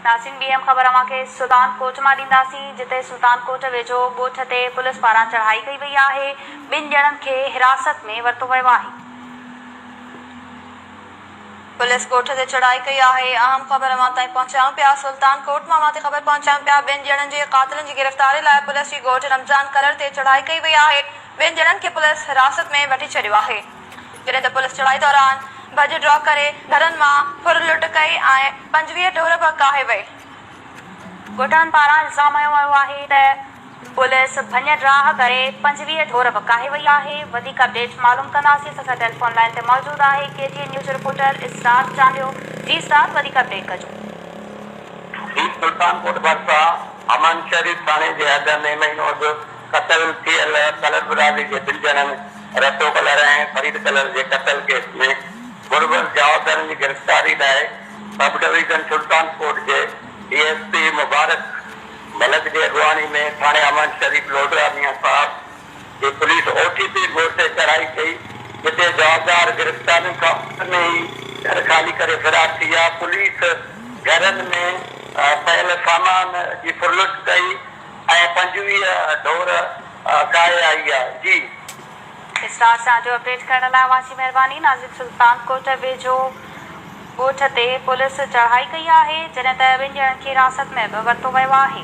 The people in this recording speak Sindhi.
ناسين ٻي اهم خبر اوهان کي سلطان ڪوٽ مان ڏينداسين جتي سلطان ڪوٽ ويجهو ڳوٺ تي پوليس پاران چڙهائي ڪئي وئي آهي ٻن ڄڻن کي حراست ۾ ورتو ويو آهي. پوليس ڳوٺ تي چڙهائي ڪئي آهي اهم خبر اوهان تائين پهچايون پيا سلطان ڪوٽ مان اوهان تي خبر پهچايون پيا ٻن ڄڻن جي قاتلن جي گرفتاري لاء پوليس جي ڳوٺ رمضان ڪلر تي چڙهائي ڪئي وئي آهي ٻن ڄڻن کي پوليس حراست ۾ وٺي ڇڏيو آهي. جڏهن ته پوليس چڙهائي دوران ڀڄ ڊوڪ ڪري گهرن مان ڦر لٽ ڪئي ۽ پنجويهه ٽهر به ڪاهي وئي. ڳوٺاڻن پاران الزام هنيو ويو آهي ته پوليس ڀڃ ڊاهه ڪري پنجويهه ڍور به ڪاهي وئي آهي. وڌيڪ اپڊيٽ معلوم ڪنداسين اسان سان ٽيليفون لائين تي موجود آهي K G N news reporter Israr Chandio جي اسرار وڌيڪ اپڊيٽ ڪجو. ڊي سلطان ڪوٽ ڀرسان امان شريف ٿاڻي جي اڳ ۾ مهينو اڳ قتل ٿيل طلعت برادري جي ٻن ڄڻن، رتو ڪلر ۽ فريد ڪلر جي قتل ڪيس ۾ ملوث جوابدارن جي گرفتاري لاء سب ڊويزن سلطان ڪوٽ جي D S P Mubarak Malik جي اڳواڻي ۾ ٿاڻي امان شريف لوڍڙا ميان صاحب جي police O T P road تي چڙهائي ڪئي جتي جوابدار گرفتارين کان اڳ ۾ ئي گهر خالي ڪري فرار ٿي ويا پوليس گهرن ۾ پيل سامان جي ڦرلٽ ڪئي. ۽ پنجويهه ڍور ڪاهي آئي آ جي. اسٽار سان جو اپڊيٽ ڪرڻ لاء اوهان جي مهرباني ناظم سلطان ڪوٽ ويجهو ڳوٺ تي پوليس چڙهائي ڪئي آهي جڏهن ته ٻن ڄڻن کي حراست ۾ به ورتو ويو آهي.